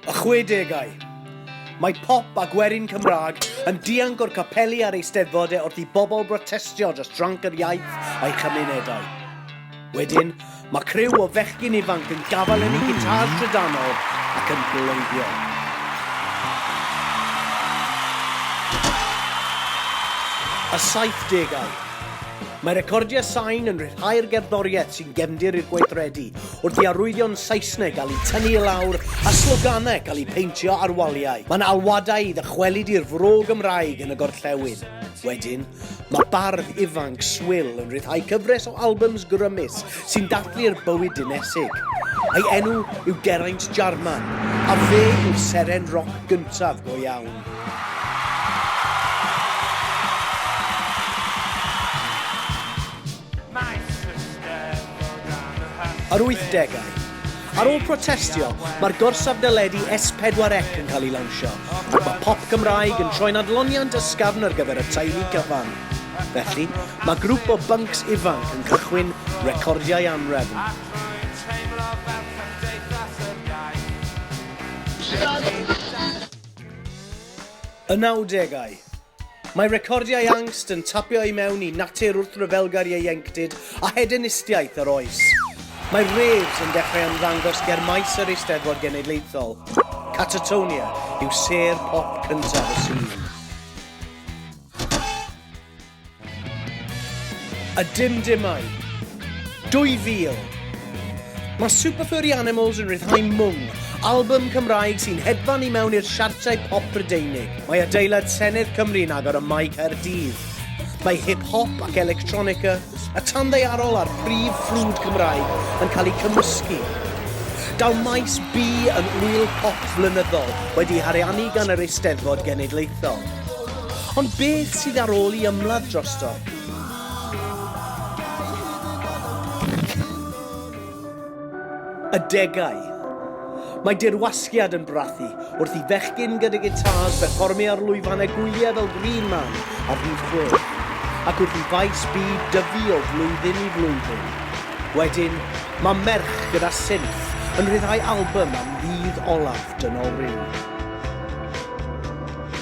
Y chwedegau. Mae pop a gwerin Cymraeg yn dianc o'r capeli a'r eisteddfod e wrth i bobl brotestio dros dranc yr iaith a'i chymunedau. Wedyn, mae criw o fechgyn ifanc yn gafael yn ei gitars trydanol ac yn bloeddio. a saith degau. Mae recordiau sain yn rhyddhau'r gerddoriaeth sy'n gefndir i'r gweithredu, wrth i arwyddion Saesneg gael eu tynnu i lawr a sloganau cael eu peintio ar waliau. Mae'n alwadau i ddychwelyd i'r fro Gymraeg yn y gorllewin. Wedyn, mae bardd ifanc Swil yn rhyddhau cyfres o albums grymus sy'n dathlu'r bywyd dinesig. Ei enw yw Geraint Jarman, a fe yw'r seren roc gyntaf go iawn. Yr 80au. Ar ôl protestio, mae'r gorsaf deledu S4C yn cael ei lawnsio, ac mae pop Gymraeg yn troi'n adloniant ysgafn ar gyfer y teulu cyfan. Felly, mae grŵp o byncs ifanc yn cychwyn recordiau anrefn. Y nawdegau. Mae recordiau angst yn tapio i mewn i natur wrthryfelgar ieuenctid a hedenistiaeth yr oes. Mae raves yn dechrau ymddangos ger maes yr Eisteddfod Genedlaethol. Catatonia yw sêr pop cyntaf y sîn. A dim dimau. 2000. Mae Super Furry Animals yn rhyddhau mwng, album Cymraeg sy'n hedfan i mewn i'r siartiau pop Brydeinig. Mae adeilad Senedd Cymru'n agor y Mae Caerdydd. Mae hip-hop ac electronica, y tan ddeiarol a'r prif ffrwd Cymraeg yn cael eu cymysgu. Daw maes B yn wyl pop flynyddol wedi hariannu gan yr Eisteddfod Genedlaethol. Ond beth sydd ar ôl i ymladd drosto? Adegau. Mae dirwasgiad yn brathu wrth i fechgyn gyda gitars berfformio ar lwyfannau gwyliau fel Green Man a Rhif Chwech, ac wrth i faes B dyfu o flwyddyn i flwyddyn. Wedyn, mae merch gyda synth yn rhyddhau albym am ddydd olaf Dynol Rhyw.